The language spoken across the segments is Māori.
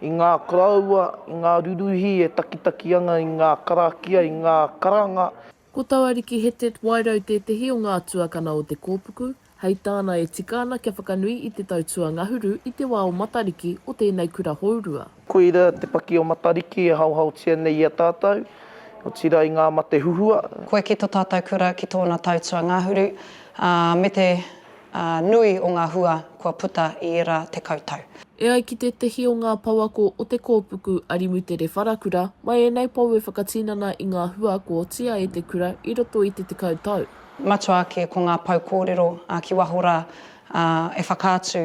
I ngā koroua, i ngā ruruhi e takitaki ana i ngā karakia, i ngā karanga. Ko Tawariki Hetet Wairau tētehi o ngā tuakana o Te Kōpuku, hei tāna e tika ana kia whakanui i te tau tuangahuru i te wā o Matariki o tēnei kura hourua. Koira te paki o Matariki e haohaotia nei i a tātou, otirā i ngā mate huhua. Koe ki to tātou kura ki tōna tau tuangahuru, ā, me te. nui o ngā hua kua puta i ērā tekau tau. E ai ki tētehi o ngā pouako o te kōpuku a Rimutere Wharakura, mai ēnei pou e whakatinana i ngā hua kua otia e te kura i roto i te tekau tau. Matua ake ko ngā pou kōrero ki waho rā e whakaatu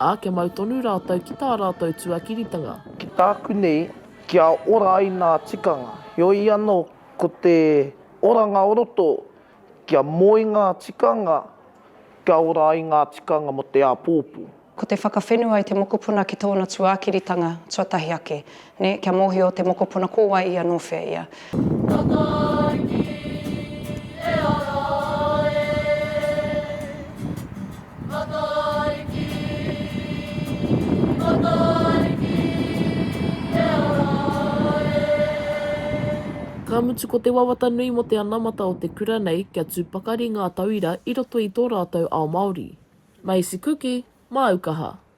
Ā, kia mau tonu rātou ki tā rātou tuakiritanga. Ki tāku nei, kia ora ai ngā tikanga. Heoi anō, ko te oranga o roto, kia moe ngā tikanga, kia ora ai ngā tikanga mō te āpōpō. Ko te whakawhenua i te mokopuna ki tōna tuakiritanga tuatahi ake, Nē, kia mōhio te mokopuna ko wai ia nō whea ia. Takaiki e ara e, Takaiki, Takaiki e ara e. Ka mutu ko te wawata nui mō te anamata o te kura nei kia tū pakari ngā tauira i roto i tō rātou ao Māori. Maisi kuki, māu kaha.